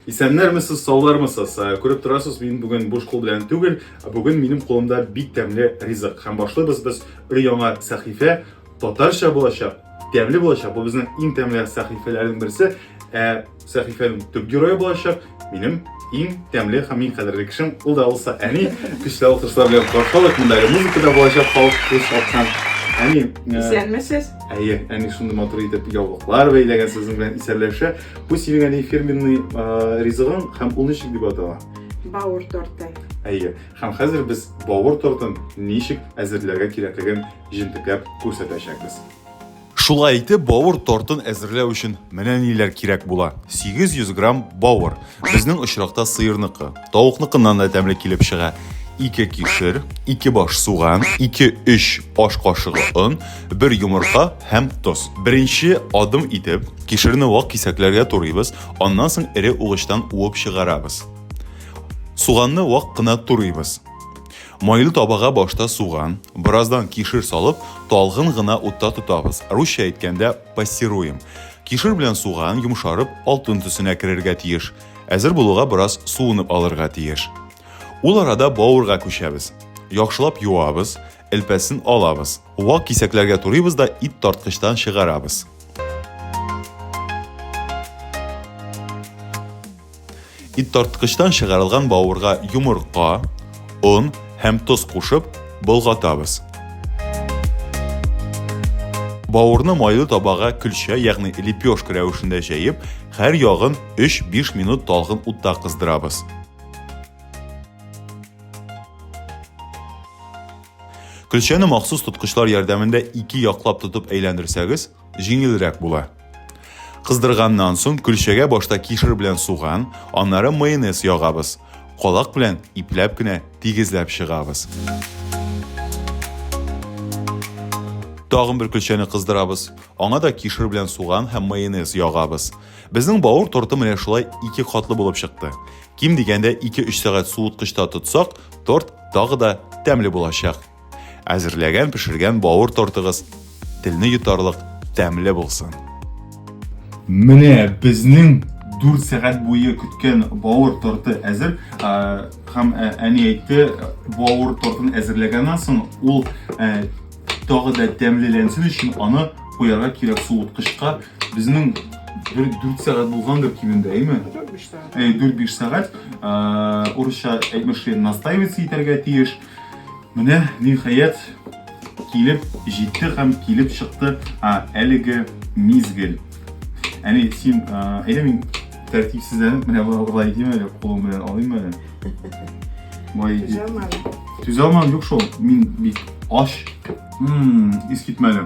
Исәннәрмесез, саулармысыз? Э, күреп торасыз, мин бүген буш кул белән түгел, ә бүген минем кулымда бик тәмле ризык. Һәм башлыйбыз без өр яңа сәхифә, татарча булачак, тәмле булачак. Бу безнең иң тәмле сәхифәләрнең берсе. Ә сәхифәнең төп герое булачак минем иң тәмле һәм иң кадерле кешем, ул да булса әни. Көчле алкышлар белән каршылык, монда музыка да булачак, халык күз аткан. Әни, э, исәнмесез. Әйе, әни шундый матур итеп яулыклар бәйләгән сезнең белән исәнләшә. Бу синең әни фирменный ризыгың һәм ул ничек дип атала? Бауыр торты. Әйе. Һәм хәзер без бауыр тортын ничек әзерләргә кирәклеген җентекләп күрсәтәчәкбез. Шулай итеп, бауыр тортын әзерләү өчен менә ниләр кирәк була. 800 грамм бауыр. Безнең очракта сыерныкы. Тавыкныкыннан да тәмле килеп чыга. 2 кишер, 2 баш суган, 2-3 аш кашыгы он, 1 йомырка һәм тоз. Беренче адым итеп, кишерне вак кисәкләргә турыйбыз, аннан соң эре угычтан уып чыгарабыз. Суганны вак кына турыйбыз. Майлы табага башта суган, бераздан кишер салып, талгын гына утта тотабыз. Русча әйткәндә пассируем. Кишер белән суган йомшарып, алтын төсенә керергә тиеш. Әзер булуга бераз суынып алырга тиеш. Ул арада бавырга күчәбез. Яхшылап юабыз, элпәсен алабыз. Вак кисәкләргә турыйбыз да ит тарткычтан чыгарабыз. Ит тарткычтан чыгарылган бавырга йомырка, Он һәм тоз кушып, болгатабыз. Бауырны майлы табага көлчә, ягъни лепешка рәвешендә җәеп, һәр ягын 3-5 минут талгын утта кыздырабыз. Көлчәне махсус тоткычлар ярдәмендә ике яклап тотып әйләндерсәгез, җиңелрәк була. Кыздырганнан соң көлчәгә башта кишер белән суган, аннары майонез ягабыз. Калак белән ипләп кенә тигезләп чыгабыз. Тагын бер көлчәне кыздырабыз. Аңа да кишер белән суган һәм майонез ягабыз. Безнең бауыр торты менә шулай ике катлы булып чыкты. Ким дигәндә 2-3 сәгать суыткычта тотсак, торт тагы да тәмле булачак. Әзерләгән пешергән бауыр тортыгыз телне йотарлык тәмле булсын. Менә безнең 4 сәгать буе көткән бауыр торты әзер. Һәм әни әйтте, бауыр тортын әзерләгәннән соң ул тагы да тәмлеләнсен өчен аны куярга кирәк суыткычка. Безнең 4 сәгать булгандыр кимендә, әйме? 4-5 сәгать. 4-5 сәгать. Урысча әйтмешли, настаиваться итәргә тиеш. Менә ниһаять килеп җитте һәм килеп чыкты а, әлеге мизгел. Әни, син әйдә мин тәртипсезләнеп менә болай итим әле, кулым белән алыйм әле. Болай итеп. Түзә алмадым, юк шул. Мин бик аш. Мм, ис китмәле.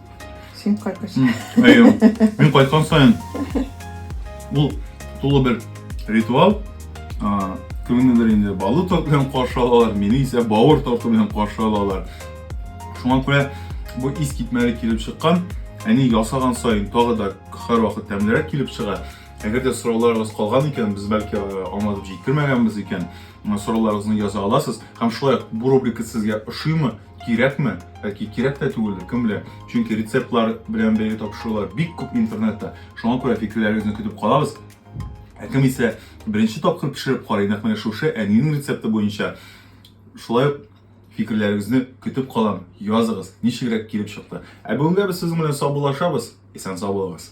Син кайткансың. Әйе. Мин кайткан сайын бу тулы бер ритуал. А, кемнедер инде балы торт белән каршы алалар, мине исә бавыр торты белән каршы алалар. Шуңа күрә бу ис китмәле килеп чыккан, әни ясаган сайын тагы да һәр вакыт тәмлерәк килеп чыга. Әгәр дә сорауларыгыз калган икән, без бәлки аңлатып җиткермәгәнбез икән, сорауларыгызны яза аласыз. Һәм шулай бу рубрика сезгә ошыймы? Кирәкме? Бәлки кирәк тә түгелдер, кем белә. Чөнки рецептлар белән бәйле тапшырулар бик күп интернетта. Шуңа күрә фикерләрегезне көтеп калабыз. Ә кем исә беренче тапкыр пешереп карый, нәкъ менә шушы әнинең рецепты буенча, шулай ук фикерләрегезне көтеп калам. Языгыз, ничегрәк килеп чыкты. Ә бүгенгә без сезнең белән саубуллашабыз. Исән-сау булыгыз.